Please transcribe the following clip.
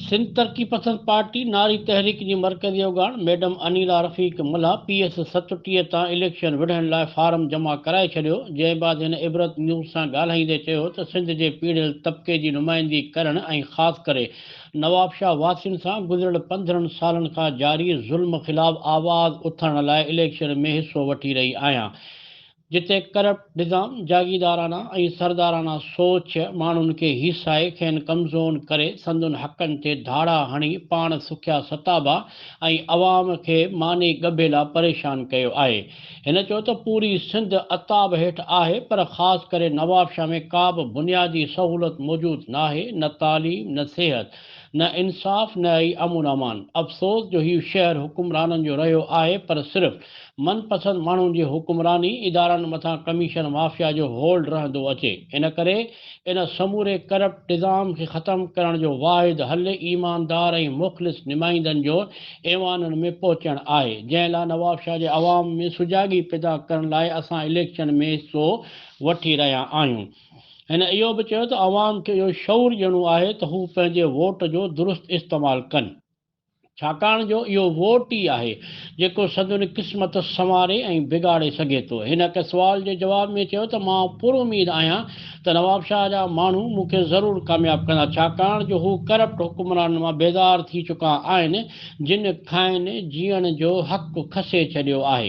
Sindh Taraqi Pasand party ناري تحريڪ جي مرڪزي اوڳاڻ madam Anila Rafiq Mallah P S ستٽيهه تان اليڪشن وڙهڻ لاء فارم جمع ڪرائي ڇڏيو جنهن بعد هن عبرت نيوز سان ڳالهائيندي چيو ته سنڌ جي پيڙهيل طبقي جي نمائندي ڪرڻ ۽ خاص ڪري نوابشاهه واسين سان گذريل پندرهن سالن کان جاري ظلم خلاف آواز اٿارڻ لاء اليڪشن ۾ حصو وٺي رهي آهيان جتي ڪرپٽ نظام جاگيدارانه ۽ سردارانه سوچ ماڻهن کي هيسائي کين ڪمزون ڪري سندن حقن تي ڌاڙا هڻي پاڻ سکيا ستابا ۽ عوام کي ماني ڳڀيلا پريشان ڪيو آهي هن چيو ته پوري سنڌ عتاب هيٺ آهي پر خاص ڪري نوابشاهه ۾ ڪابه بنيادي سهولت موجود ناهي نه تعليم نه صحت نه انصاف نه ئي امن امان افسوس جو هي شهر حڪمرانن جو رهيو آهي پر صرف من پسند ماڻهن جي حڪمراني ادارن مٿان ڪميشن مافيا جو هولڊ رهندو اچي ان ڪري ان سموري ڪرپٽ نظام کي ختم ڪرڻ جو واحد حل ايماندار ۽ مخلص نمائندن جو ايوانن ۾ پهچڻ آهي، جنهن لاء نوابشاهه جي عوام ۾ سجاڳي پيدا ڪرڻ لاء اسان اليڪشن ۾ حصو وٺي رهيا آهيون. هن اهو به چيو ته عوام کي اهو شعور ڏيڻو آهي ته هو پنهنجي ووٽ جو درست استعمال ڪن. ڇاڪاڻ جو اهو ووٽ ئي آهي، جيڪو سندن قسمت سنواري ۽ بگاڙي سگهي ٿو. هن هڪ سوال جي جواب ۾ چيو ته مان پراميد آهيان ته نوابشاهه جا ماڻهو مون کي ضرور ڪامياب ڪندا، ڇاڪاڻ جو هو ڪرپٽ حڪمرانن مان بيزار ٿي چڪا آهن، جن کانئن جيئڻ جو حق کسي ڇڏيو آهي.